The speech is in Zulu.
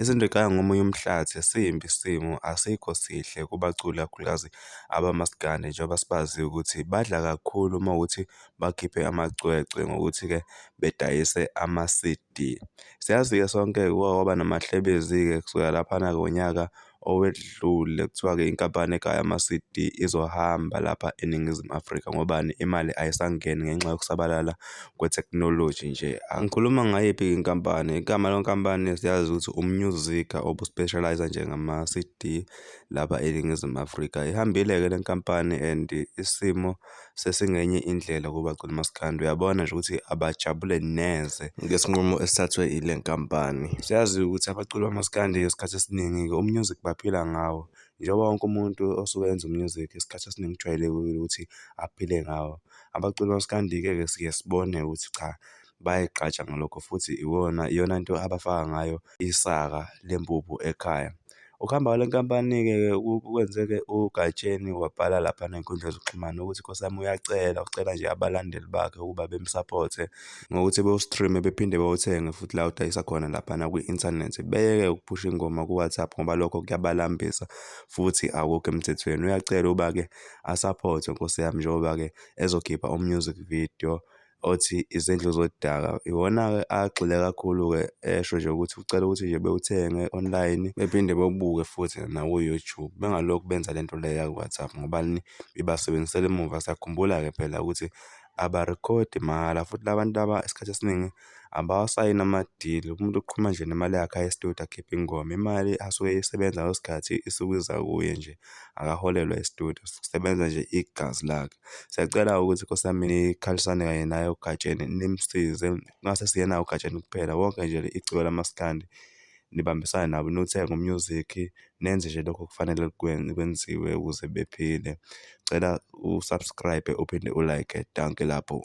Izinto ziqala ngomunye umhlathi, simbi isimo asikho sihle kubaculi kakhulukazi abamaskandi njengoba sibaziyo ukuthi badla kakhulu uma kuwukuthi bakhiphe amacwecwe ngokuthi-ke bedayise ama-C_D. Siyazi-ke sonke-ke kuke kwaba namahlebezi-ke kusukela laphana ngonyaka. owedlule kuthiwa-ke inkampani egaya ama-C_D izohamba lapha eNingizimu Afrika ngobani? Imali ayisangeni ngenxa yokusabalala kwethekhnoloji nje. Angikhuluma ngayiphi-ke inkampani, igama lenkampani siyazi ukuthi uMusica obu-specialise-a nje ngama-C_D lapha eNingizimu Afrika. Ihambile-ke le nkampani and isimo sesingenye indlela kubagcina maskandi uyabona nje ukuthi abajabule neze ngesinqumo esithathwe ile nkampani siyazi ukuthi abaculi bamaskandi isikhathi esiningi-ke umusic baphila ngawo njengoba wonke umuntu osuke enza umusic isikhathi esiningi kujwayelekile ukuthi aphile ngawo abaculi bamaskandi-ke ke siye sibone ukuthi cha bayayigqaja ngalokho futhi iwona iyona nto abafaka ngayo isaka lempuphu ekhaya. Ukuhamba kwale nkampani-ke kwenze-ke uGatsheni wabhala laphana ey'nkundleni zokuxhumana ukuthi Nkosi yami uyacela, ucela nje abalandeli bakhe ukuba bemsaphothe ngokuthi bewu-stream-e bephinde bewuthenge futhi la udayisa khona laphana kwi-inthanethi. Beyeke ukuphusha ingoma ku-WhatsApp ngoba lokho kuyabalambisa futhi akukho emthethweni. Uyacela ukuba-ke asaphothwe Nkosi yami njengoba-ke ezokhipha u-music video. othi izindlu zodaka. Iwona-ke agxile kakhulu-ke esho nje ukuthi ucela ukuthi nje bewuthenge online bephinde bewubuke futhi naku-YouTube. Bengalokhu benza le nto le yaku-WhatsApp ngobani ibasebenzisela emuva. Siyakhumbula-ke phela ukuthi abarikhodi mahhala futhi la bantu laba isikhathi esiningi abawasayini amadili. Umuntu uqhuma nje nemali yakhe aye e-studio akhiphe ingoma. Imali asuke eyisebenza ngaleso sikhathi isuke iza kuye nje. akaholelwa estudio kusebenza nje igazi lakhe siyacela ukuthi nkosi yami nikhalisane kanye naye ugatsheni nimsize kungase siyena ugatsheni kuphela wonke nje iciko lamaskandi nibambisane nabo niwuthenge umusic nenze nje lokho kufanele kwenziwe ukuze bephile cela usubscribe uphinde ulike danke lapho